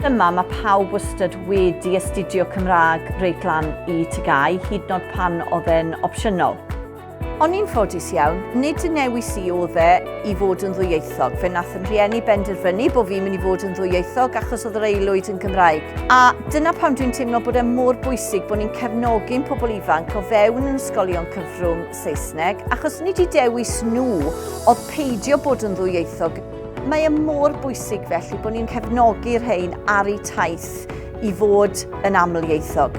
Yma mae pawb wastad wedi astudio Cymraeg reit lan i TGAU, hyd yn oed pan oedd e'n opsiynol. Ond yn ffodus iawn, nid yn newis i oedd e, i fod yn ddwyieithog. Fe nath yn rhieni benderfynu bod fi'n mynd i fod yn ddwyieithog achos oedd yr aelwyd yn Gymraeg. A dyna pam dwi'n teimlo bod e mor bwysig bod ni'n cefnogi'n pobl ifanc o fewn yn ysgolion cyfrwng Saesneg, achos nid i dewis nhw oedd peidio bod yn ddwyieithog. Mae e mor bwysig felly bod ni'n cefnogi'r rhain ar eu taith. i fod yn amlieithog.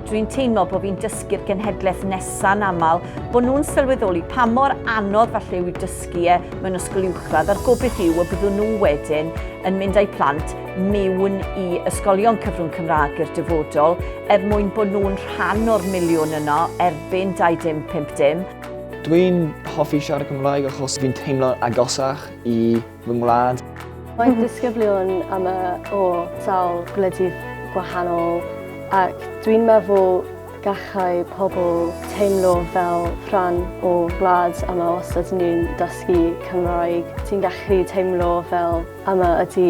Dwi'n teimlo bod fi'n dysgu'r genhedlaeth nesa'n aml, bod nhw'n sylweddoli pa mor anodd falle yw dysgu e mewn ysgol uwchradd a'r gobyth yw y byddwn nhw wedyn yn mynd â'u plant mewn i ysgolion cyfrwng Cymraeg i'r dyfodol er mwyn bod nhw'n rhan o'r miliwn yno erbyn 2050. Dwi'n hoffi siarad Cymraeg achos fi'n teimlo'n agosach i fy ngwlad. Mae disgyblion am y o sawl gwledydd gwahanol ac dwi'n meddwl gallai pobl teimlo fel rhan o wlad yma os ydyn ni'n dysgu Cymraeg. Ti'n gallu teimlo fel yma ydy